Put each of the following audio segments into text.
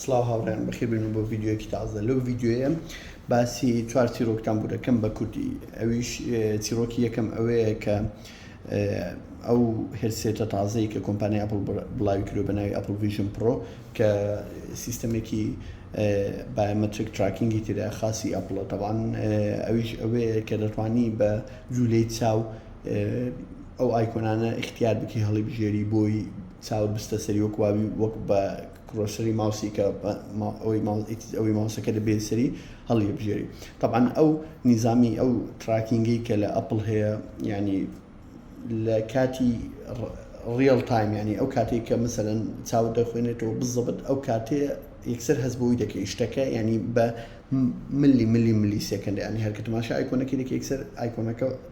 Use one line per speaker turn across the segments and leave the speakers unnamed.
سڵاو هاوڕێیان بەخێربێن و بۆ ڤیدیۆیەکی تازە لەو ڤیدیۆیە باسی چوار چیرۆکتان بوو دەکەم بە کوردی ئەویش چیرۆکی یەکەم ئەوەیە کە ئەو هرسێتە تازەی کە کۆمپانیا ئەپل بڵاوی کرد بە ناوی ئەپل ڤژن پرۆ کە سیستەمێکی بایمەترک تراکینگی تێدا خاصی ئەپڵە تەوان ئەویش ئەوەیە کە دەتوانی بە جوولەی چاو ئەو ئایکۆنانە اختیار بکی هەڵی بژێری بۆی چاوت بستە سەری وەک وابی وەک بە کرۆسەری ماوسی کە ئەوەی ماوسەکە دەبێت سەری هەڵی بژێری طبعاان ئەو نیزامی ئەو تراکینگەی کە لە ئەپل هەیە ینی لە کاتی ڕیل تایم ینی ئەو کاتێک کە مثلەن چاو دەخوێنێتەوە بزەبت ئەو کاتێ یەکسەر هەز بۆی دەکەی شتەکە ینی بە ملی ملی ملی سێکەند ینی هەرکە تماشا ئایکۆنەکەی دەکە یەکسەر ئایکۆنەکە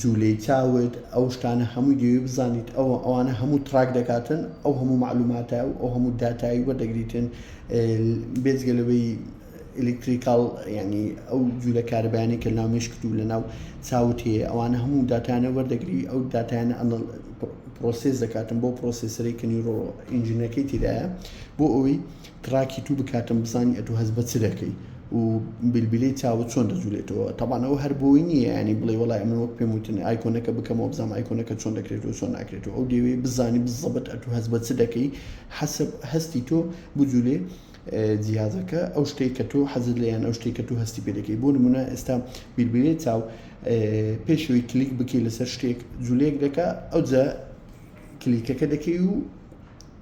جولەی چاوت ئەو شتانە هەمووی دەیەوێت بزانیت ئەوە ئەوانە هەموو تراک دەکاتن ئەو هەموو معلوماتە و ئەو هەموو داتایی وەردەگریتن بێزگە لەوەی ئەلکتریکال ینی ئەو جوولە کاربیانی کە ناو مشکت و لە ناو چاوت هەیە ئەوانە هەموو داتانە وەردەگری ئەو داتانە ئەنە پرۆسس دەکاتن بۆ پرۆسیسەری کە نیرۆ ئینجینەکەی تیدایە بۆ ئەوی تڕاکی تو بکاتم بزانی ئەتو هەست بە چ دەکەی و بیلبیلەی چاوت چۆن دەجولێتەوە تەبان ئەوە هەر بۆی نیە یانی بڵێ وەڵای من وەک پێم وتن ئایکۆنەکە بکەمەوە بزانم ئایکۆنەکە چۆن دەکرێتەوە چۆن ناکرێتەوە ئەو دەیەوێ بزانی بزەبت ئەتو هەست بە چ دەکەی حەسب هەستی تۆ بجولێ جیازەکە ئەو شتەی کە تۆ حەزت لەیان ئەو شتێک کە تو هەستی پێ دەکەی بۆ نمونە ئێستا بیربیلێ چاو پێشەوەی کلیک بکەی لەسەر شتێک جولێک دەکە ئەو جا کلیکەکە دەکەی و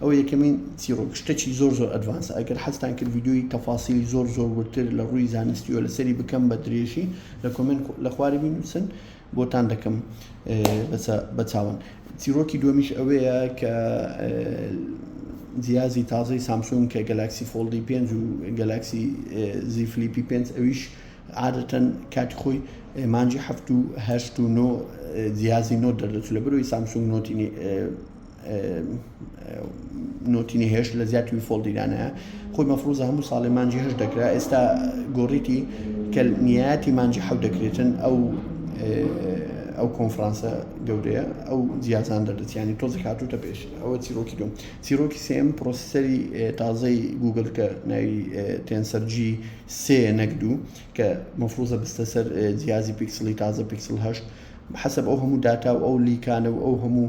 ئەوە یەکەمین چیڕۆک شتەکی زۆر زۆر ئەدڤانسە ئەگەر حەزتان کرد ڤیدیۆی تەفاسیلی زۆر زۆر وردتر لە ڕووی زانستیەوە لەسەری بکەم بە درێژی لە کۆمێنت لە خوارە بینوسن بۆتان دەکەم بەچاون چیرۆکی دومیش ئەوەیە کە جیازی تازەی سامسونگ کە گەلاکسی فۆڵدی پێنج و گەلاکسی زی فلیپی پێنج ئەویش عادەتەن کاتی خۆی مانجی هەفت و هەشت و نۆ جیازی نۆ دەردەچ لە بروی سامسونگ نۆتی نۆتی نهێشت لە زیاد توی فۆڵ دیرانە خۆی مەفروزە هەموو ساڵێ مانجی هەش دەکرا ئێستا گۆڕیتی کە نیاتی مانجی حەو دەکرێتن ئەو ئەو کۆنفرانسە گەورەیە ئەو جیازان دەردەچیانی تۆزی هاتوتە پێش ئەوە چیرۆکی دوم چیرۆکی سم پرۆسیسەری تازەی گوگل کە ناوی تێنسەرجی سێ نەکدو کە مەفروزە بستە سەر جیازی پیکسلی تازە پیکسل هەشت حسب ئەو هەموو داتا و ئەو لیکانە و ئەو هەموو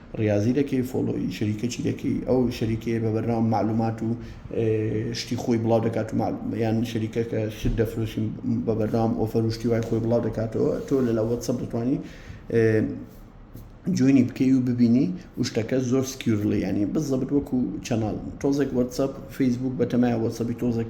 ڕیازی دەکەی فۆڵۆی شەریکەچی دەکەی ئەو شەریکەیە بە بەرنامە معلومات و شتی خۆی بڵاو دەکات و یان شەریکەکە شت دەفرۆشین بە بەرنام ئۆفەر و شتی وای خۆی بڵاو دەکاتەوە تۆ لەلا وەتسەپ دەتوانانی جوێنی بکەی و ببینی و شتەکە زۆر سکیورلی ینی بزەبت وەکو چەناڵ تۆزێک وەتسەپ فەیسبوک بەتەمای وەسەبی تۆزێک